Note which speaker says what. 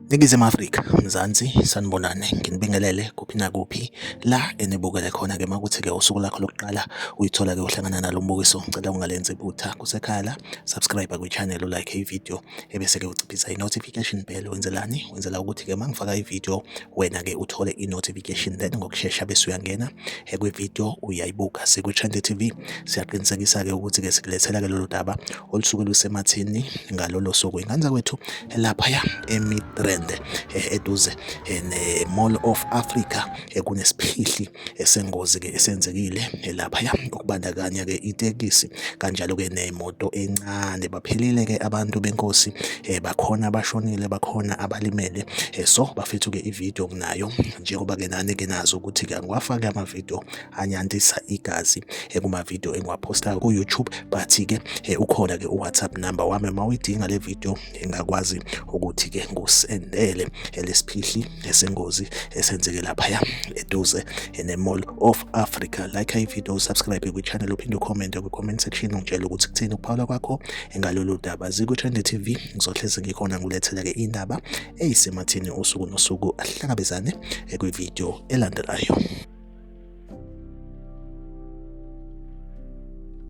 Speaker 1: Ningizimu Afrika, Mzansi, sanibonane, nginibingelele kuphi nakuphi la enibukele khona ke makuthi ke usuku lakho lokuqala uyithola ke uhlangana nalo mbukiso, ngicela ungalenzi iphutha kusekhaya la, subscribe kwi-channel, ulike i-video, ebese-ke uciphisa i-notification bell wenzelani wenzela ukuthi-ke uma ngifaka ividiyo wena-ke uthole i-notification then ngokushesha bese uyangena kwividiyo uyayibuka sikwi-trende tv siyaqinisekisa-ke ukuthi-ke sikulethela-ke lolu daba olusuke lusemathini ngalolo suku ingane zakwethu laphaya emidrand eh, eduze eh, ne-mall of africa eh, kunesiphihli esengozi-ke esenzekile laphaya okubandakanya-ke itekisi kanjalo-ke nemoto encane baphelile-ke abantu benkosi um bakhona abashonile bakhona abalimele um so bafethu-ke ividiyo kunayo njengoba-ke nani-ke nazi ukuthi-ke angiwafaki amavidiyo anyantisa igazi um kumavidiyo engiwaphostayo ku-youtube but-ke um ukhona-ke uwhatsapp number wami uma uyidinga le vidiyo ngingakwazi ukuthi ke ngusendele elesiphihli esengozi esenzeke laphaya eduze in a mall of Africa like i video subscribe kwi channel uphinde ucomment kwi comment section ungitshela ukuthi kuthini ukuphawula kwakho engalolu daba ziku Trend TV ngizohleze ngikhona ngulethela ke indaba eyisemathini usuku nosuku ahlangabezane kwi video elandelayo